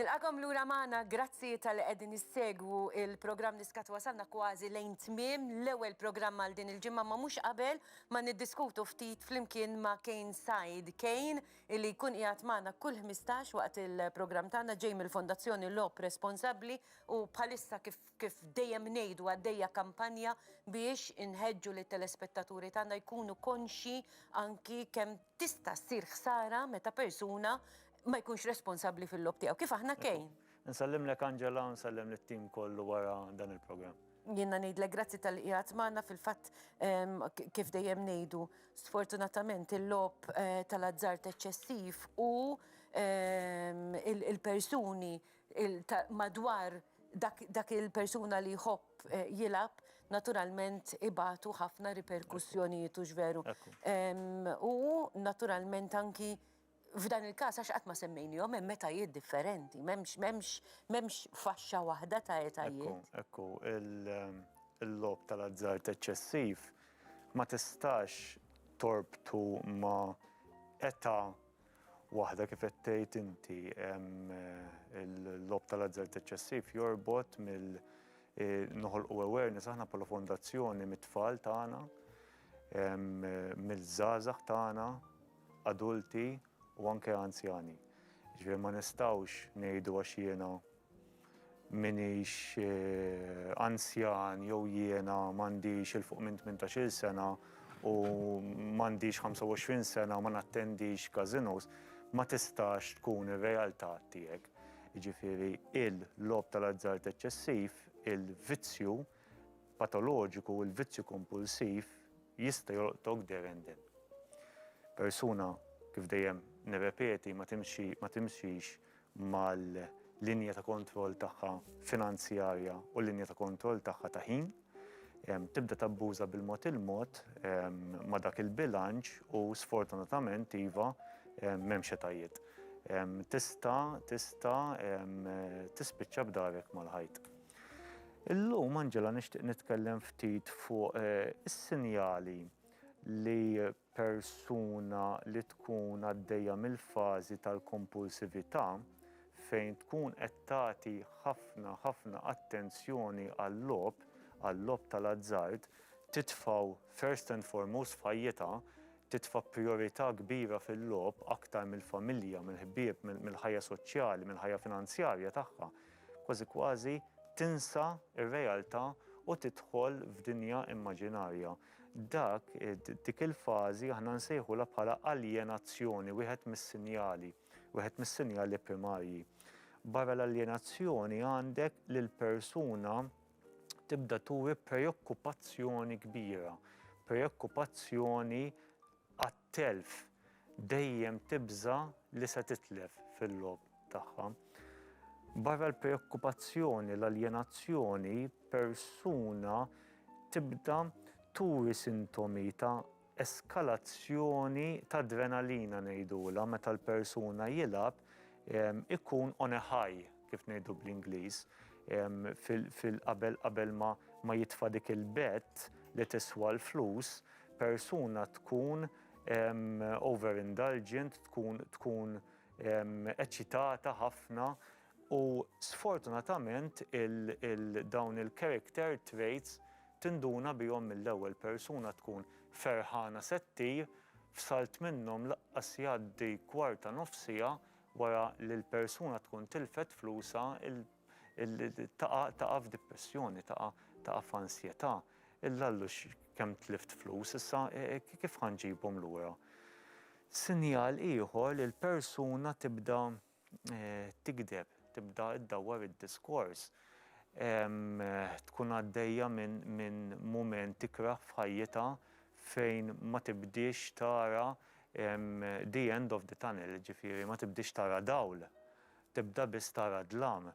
Nilqakom lura magħna, grazzi tal-li qegħdin issegwu il-programm li skat wasalna kważi lejn tmiem l-ewwel programm għal din il-ġimgħa ma mhux qabel ma niddiskutu ftit flimkien ma' Kane Said Kane illi jkun qiegħed magħna kull 15 waqt il-programm tagħna ġej mill-Fondazzjoni Lop Responsabbli U bħalissa kif kif dejjem ngħidu għaddejja kampanja biex inħeġġu lit-telespettaturi tagħna jkunu konxji anki kemm tista' ssir ħsara meta persuna ma jkunx responsabbli fil-logħob tiegħu. Kif aħna Kane. Insellimlek Angela u nsellem lit-tim kollu wara dan il-programm. Jiena ngħidlek grazzi talli qiegħed magħna fil-fatt kif dejjem ngħidu sfortunatament il-logħob tal-azzard eċċessiv u l-persuni madwar dak il-persuna li jħobb jilgħab, naturalment ibatu ħafna riperkussjonijiet, hux veru? U naturalment anki f'dan il-każ, għax qatt ma semmejniehom, hemm etajiet differenti, m'hemmx faxxa waħda ta' etajiet. Ekku, il-logħob tal-azzard eċċessiv ma tistax torbtu ma' età Waħda kif qed tgħid inti hemm il-logħob tal-azzard eċċessiv jorbot mill noħolqu awareness aħna bħala fondazzjoni mit-tfal tagħna, mill-żgħażagħ tagħna, adulti u anke anzjani. Ġifieri ma nistgħux ngħidu għax jiena m'iniex anzjan jew jiena m'għandix 'il fuq minn tmintax-il sena u m'għandix 25 sena u ma nattendix każinos, ma tistax tkun ir-realtà tiegħek. Jiġifieri l-logħob tal-azzard eċċessiv, il-vizzju patoloġiku, il-vizzju kompulsiv jista' jolqtok there and then. Persuna, kif dejjem nirrepeti, ma timxix, mal-linja ta' kontroll tagħha finanzjarja u l-linja ta' kontroll tagħha ta' ħin, tibda tabbuża bil-mod il-mod ma' dak il-bilanċ u sfortunatament iva, m'hemm xetajiet. Tista' tista' tispiċċa b'darek mal-ħajt. Illum Angela nixtieq nitkellem ftit fuq is-sinjali li persuna li tkun għaddejja mill-fażi tal-kompulsività, fejn tkun qed tagħti ħafna, ħafna attenzjoni għal-logħob, għal-logħob tal-azzard, titfgħu first and foremost f'ħajjitha, titfa' prijorità kbira fil-logħob aktar mill-familja, mill-ħbieb, mill-ħajja soċjali, mill-ħajja finanzjarja tagħha, kważi kważi tinsa r-realtà u tidħol f'dinja immaġinarja. Dak, dik il-fażi aħna nsejħulha bħala aljenazzjoni, wieħed mis-sinjali, wieħed mis-sinjali primarji. Barra l-aljenazzjoni għandek li l-persuna tibda turi preokkupazzjoni kbira, preokkupazzjoni għat-telf, dejjem tibża' li se titlef fil-logħob tagħha. Barra l-preokkupazzjoni, l-aljenazzjoni, persuna tibda turi sintomi ta' eskalazzjoni ta' adrenalina ngħidulha meta l-persuna jilgħab ikun on a high. kif ngħidu bl-Ingliż, fil-qabel qabel ma ma jitfa' dik il-bet li tiswa l-flus, persuna tkun over indulgent, tkun tkun eċitata ħafna u sfortunatament dawn il-character traits tinduna bihom mill-ewwel, persuna tkun ferħana se ttir, f'salt minnhom laqqas jgħaddi kwart ta' nofsiha Wara li l-persuna tkun tilfet flusha, taqa' f'dipressjoni, taqa' f'ansjetà. L-Allu kemm tlift flus, issa kif ħa nġibhom lura? Sinjal ieħor li l-persuna tibda tigdeb, tibda ddawwar id-diskors, tkun għaddejja minn mument ikrah f'ħajjitha fejn ma tibdiex tara the end of the tunnel, jiġifieri ma tibdiex tara dawl, tibda biss tara dlam.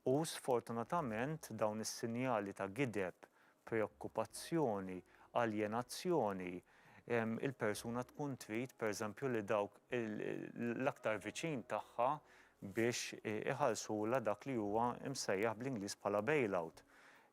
U sfortunatament dawn is-sinjali ta' gideb, preokkupazzjoni, aljenazzjoni, il-persuna tkun trid pereżempju li dawk l-aktar viċin tagħha biex iħallsulha dak li huwa msejjaħ bl-Ingliż bħala bailout.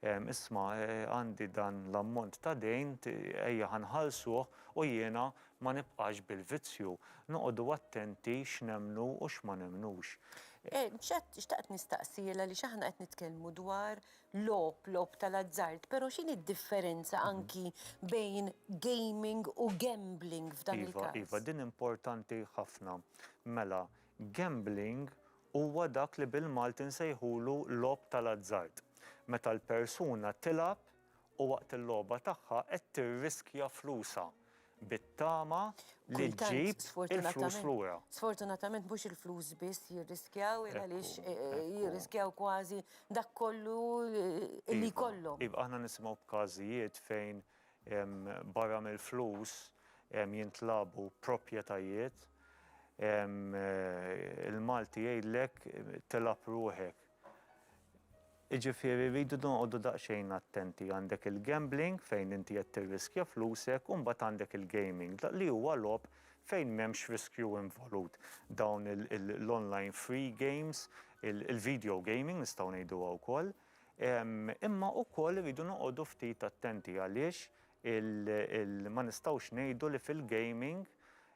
Isma' għandi dan l-ammont ta' dejn, ejja ħa nħallsuh u jiena ma nibqax bil-vizzju. Noqogħdu attenti x'nemmnu u x'ma nemmnux. Xtaqt nistaqsi għaliex aħna qed nitkellmu dwar logħob, logħob tal-azzard, però x'inhi d-differenza anki bejn gaming u gambling f'dan il-każ? Iva, iva, din importanti ħafna. Mela, Gambling huwa dak li bil-Malti nsejħulu logħob tal-azzard, meta l-persuna tilgħab u waqt il-logħba tagħha qed tirriskja flusha bit-tama li ġġib il-flus lura. Sfortunatament mhux il-flus biss jirriskjaw il għaliex jirriskjaw kważi dak kollu li jkollhom. Iva, aħna nisimgħu b'każijiet fejn Barra mill-flus jintlabu proprjetajiet. Il-Malti jgħidlek tilgħab ruħek. Jiġifieri rridu noqogħdu daqsxejn attenti. Għandek il-gambling fejn inti qed tirriskja flusek u mbagħad għandek il-gaming li huwa logħob fejn m'hemmx riskju involut. Dawn l-online free games, il-video gaming nistgħu ngħiduha wkoll. Imma wkoll irridu noqogħdu ftit attenti għaliex ma nistgħux ngħidu li fil-gaming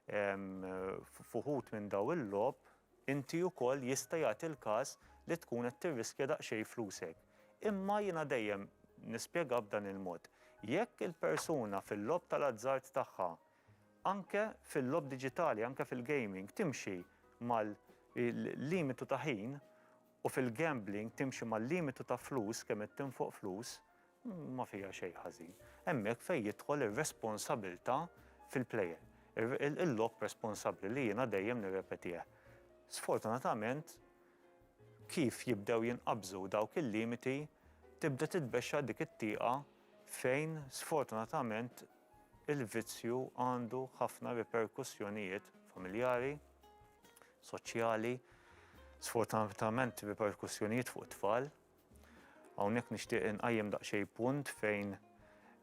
f'uħud minn dawn il-logħob inti wkoll jista' jagħti l-każ li tkun qed tirriskja daqsxejn flusek. Imma jiena dejjem nispjega b'dan il-mod. Jekk il-persuna fil-logħob tal-azzard tagħha, anke fil-logħob diġitali, anke fil-gaming, timxi mal-limitu ta' ħin, U fil-gambling timxi mal-limitu ta' flus kemm qed tinfoq flus, ma fiha xejn ħażin. Hemmhekk fejn jidħol ir-responsabilità fil-plejer. Il-logħob responsabbli li jiena dejjem nirrepetih. Sfortunatament kif jibdew jinqabżu dawk il-limiti tibda titbexxa dik it-tieqa fejn sfortunatament il-vizzju għandu ħafna riperkussjonijiet familjari, soċjali, sfortunatament bi perkussjonijiet fuq it-tfal. Hawnhekk nixtieq inqajjem daqsxejn punt fejn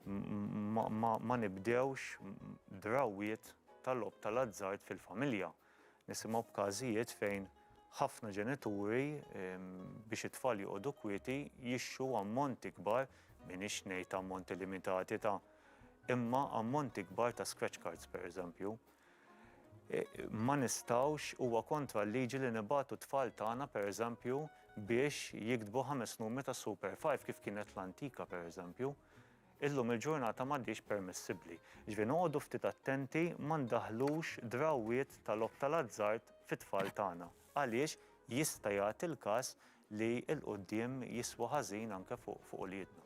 ma nibdewx drawwiet tal-logħob tal-azzard fil-familja. Nisimgħu b'każijiet fejn ħafna ġenituri biex it-tfal joqogħdu kwieti jixtru ammonti kbar, m'iniex ngħid ammonti limitati ta', imma ammonti kbar ta' scratch cards pereżempju. Ma nistgħux, huwa kontra l-liġi li nibagħtu t-tfal tagħna, pereżempju, biex jiktbu ħames numri ta' Super Five kif kienet fl-antika, pereżempju. Illum il-ġurnata m'għadhiex permissibbli. Jiġifieri noqogħdu ftit attenti ma ndaħħlux drawwiet ta' logħob tal-azzard fit-tfal tagħna għaliex jista' jagħti l-każ li 'l quddiem jiswa ħażin anke fuq uliedna.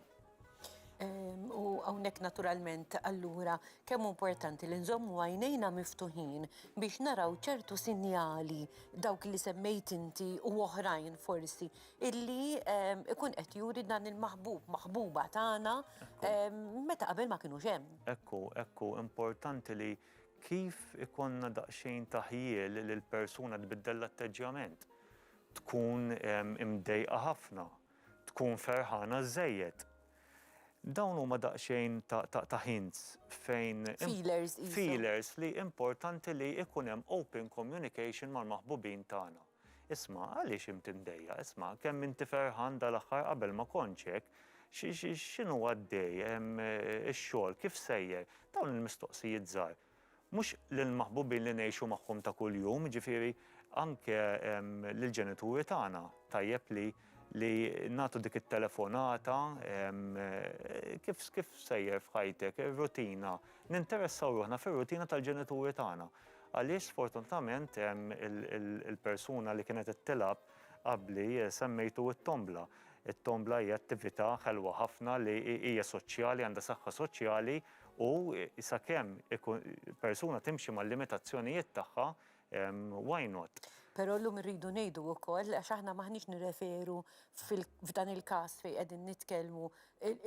U hawnhekk naturalment allura kemm hu importanti li nżommu għajnejna miftuħin biex naraw ċertu sinjali dawk li semmejt inti u oħrajn forsi illi ikun qed juri dan il-maħbub, maħbuba tagħna meta qabel ma kinux hemm. Hekk hu, hekk hu, importanti li kif ikollna daqsxejn ta' ħjiel li l-persuna tbiddel l-atteġġjament. Tkun imdejqa ħafna. Tkun ferħana żżejjed. Dawn huma daqsxejn ta' hints fejn. Feelers qishom. Feelers li importanti li ikun hemm open communication mal-maħbubin tagħna. Isma' għaliex int imdejjaq? Isma' kemm inti ferħan dal-aħħar qabel ma kontx hekk? X'inhu għaddej? Ix-xogħol kif sejjer? Dawn il-mistoqsijiet żgħar. Mhux lill-maħbubin li ngħixu magħhom ta' kuljum, jiġifieri anke lill-ġenituri tagħna tajjeb li li nagħtu dik it-telefonata, kif kif sejjer f'ħajtek, ir-rutina, ninteressaw ruħna fir-rutina tal-ġenituri tagħna. Għaliex sfortunatament il-persuna li kienet qed tilgħab qabli semmejtu t-tombla. It-tombla hija attività ħelwa ħafna li hija soċjali, għandha saħħa soċjali U sakemm persuna timxi mal-limitazzjonijiet tagħha, why not? Però llum irridu ngħidu wkoll, għax aħna m'aħniex nirreferu f'dan il-każ fejn qegħdin nitkellmu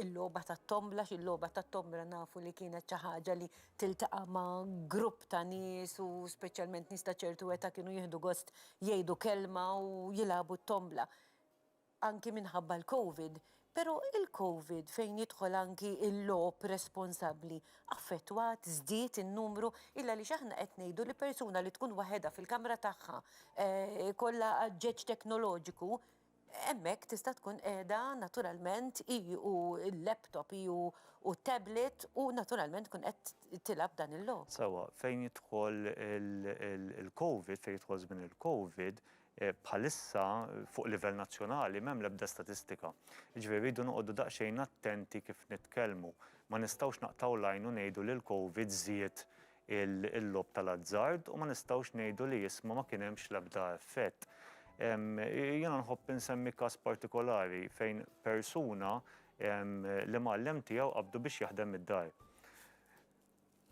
il-logħba tat-tombla, għax il-logħba tat-tombla nafu li kienet xi ħaġa li tiltaqa' ma' grupp ta' nies u speċjalment nies ta' ċertu età kienu jieħdu gost jgħidu kelma u jilagħbu t-tombla. anki minħabba l-Covid, pero' il-Covid fejn jidħol anki il-logħob responsabbli affettwat, żdied in-numru, illa għaliex aħna qed ngħidu li persuna li tkun waħedha fil-kamra tagħha jkollha għaġġeġ teknoloġiku, hemmhekk tista' tkun qiegħda naturalment hi u l-laptop, hi u t-tablet u naturalment tkun qed tilgħab dan il-logħob. Sewwa, fejn jidħol il-Covid, fejn jidħol żmien il-Covid, Bħalissa fuq livell nazzjonali m'hemm l-ebda statistika. Jiġifieri rridu noqogħdu daqsxejn attenti kif nitkellmu. Ma nistgħux naqtgħu l-għajn u ngħidu li l-Covid żied il-logħob tal-azzard u ma nistgħux ngħidu li isma' ma kien hemmx l-ebda effett. Jiena nħobb insemmi każ partikolari fejn persuna l-imgħallem tiegħu qabdu biex jaħdem mid-dar.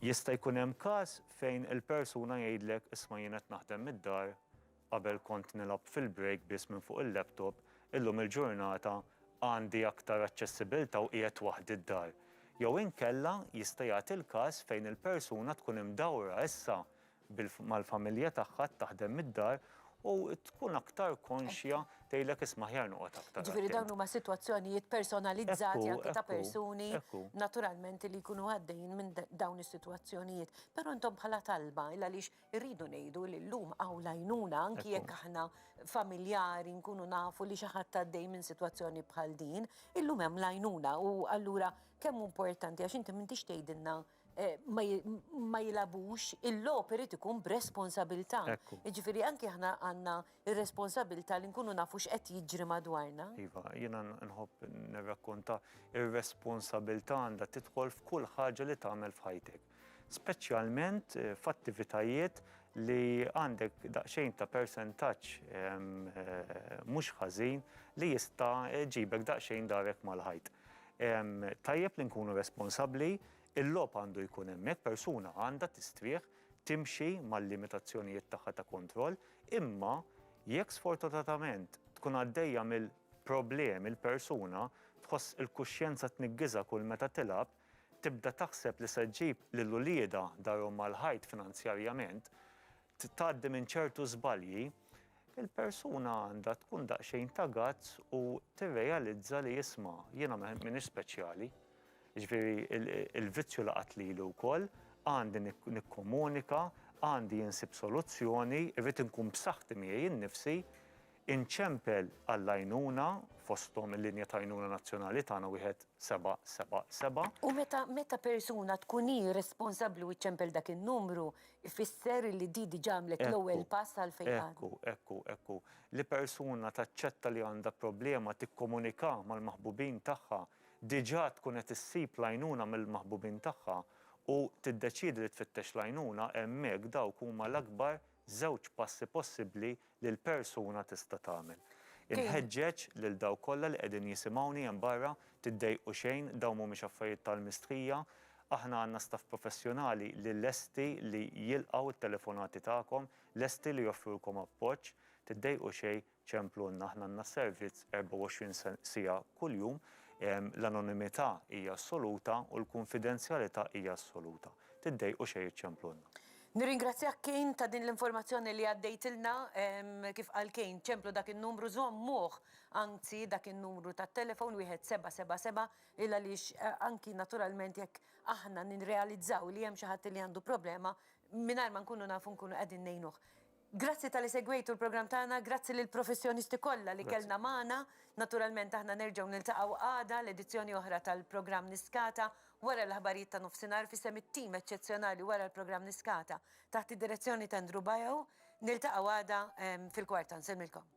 Jista' jkun hemm każ fejn il-persuna jgħidlek isma' jien qed naħdem mid-dar, qabel kont nilgħab fil-break biss minn fuq il-laptop, illum il-ġurnata għandi aktar aċċessibiltà u qiegħed waħdi d-dar. Jew inkella jista' jagħti l-każ fejn il-persuna tkun imdawra issa mal-familja tagħha, taħdem mid-dar u tkun aktar konxja tgħidlek isma' aħjar noqgħod aktar attent. Ġifieri dawn huma sitwazzjonijiet personalizzati anke ta' persuni naturalment li jkunu għaddejjin minn dawn is-sitwazzjonijiet. Però intom bħala talba, għaliex irridu ngħidu li llum hawn l-għajnuna anki jekk aħna familjari nkunu nafu li xi ħadd għaddej minn sitwazzjoni bħal din, illum hemm l-għajnuna u allura kemm hu importanti għax inti m'intix tgħidilna ma jilgħabux, il-logħob irid ikun b'responsabilità. Jiġifieri anki aħna għandna r-responsabilità li nkunu nafu x'qed jiġri madwarna. Iva, jiena nħobb nirrakkonta r-responsabilità għandha tidħol f'kull ħaġa li tagħmel f'ħajtek. Speċjalment f'attivitajiet li għandek daqsxejn ta' persentaġġ mhux ħażin li jista' jġibek daqsxejn darek mal-ħajt. Tajjeb li nkunu responsabbli, il-logħob għandu jkun hemmhekk, persuna għandha tistrieħ, timxi mal-limitazzjonijiet tagħha ta' kontroll, imma jekk sfortunatament tkun għaddejja mill-problemi l-persuna, tħoss il-kuxjenza tniggiżha kull meta tilgħab, tibda taħseb li se ġġib lil uliedha darhom mal-ħajt finanzjarjament, tgħaddi minn ċertu żbalji, il-persuna għandha tkun daqsxejn ta' gazz u tirrealizza li isma' jiena m'iniex speċjali. Ġifieri il-vizzju laqat lili wkoll, għandi nikkomunika, għandi insib soluzzjoni, irrid inkun b'saħħti miegħi nnifsi, Inċempel għall-għajnuna, fosthom il-linja ta' għajnuna nazzjonali tagħna wieħed seba' seba' seba'. U meta meta persuna tkun hi responsabbli u ċċempel dak in-numru, ifisser li di diġà għamlet l-ewwel pass għal fejqan. Ekku, ekku, ekku. Li persuna taċċetta li għandha problema tikkomunika mal-maħbubin tagħha, diġà tkun qed issib l-għajnuna mill-maħbubin tagħha u tiddeċiedi li tfittex l-għajnuna, hemmhekk dawk huma l-akbar Żewġ passi possibbli li l-persuna tista' tagħmel. Inħeġġeġ lil dawk kollha li qegħdin jisimgħuni hemm barra, tiddejqu xejn, dawn mhumiex affarijiet tal-mistħija. Aħna għandna staff professjonali li lesti li jilqgħu t-telefonati tagħkom, lesti li joffrulkom appoġġ. Tiddejqu xejn, Ċemplunna, aħna għandna s-servizz 24 siegħa kuljum, l-anonimità hija assoluta u l-kunfidenzjalità hija assoluta. Tiddejqu xejn iċċemplunna. Nirringrazzjak Kane ta' din l-informazzjoni li għaddejtilna. Kif qal Kane, ċemplu dak in-numru, żommuh anzi dak in-numru tat-telefon wieħed seba' seba' seba' il għaliex anki naturalment jekk aħna nirrealizzaw li hemm xi ħadd li għandu problema mingħajr ma nkunu nafu nkunu qegħdin ngħinuh. Grazzi talli segwejtu l-programm tagħna, grazzi lill-professjonisti kollha li kellna magħna. Naturalment aħna nerġgħu niltaqgħu għada l-edizzjoni oħra tal-programm Niskata wara l-aħbarijiet ta' nofsinhar f'isem it-tim eċċezzjonali wara l-programm Niskata taħt id-direzzjoni ta' Ndru Bajo. Niltaqgħu għada fil-kwarta. Nsellmilkom.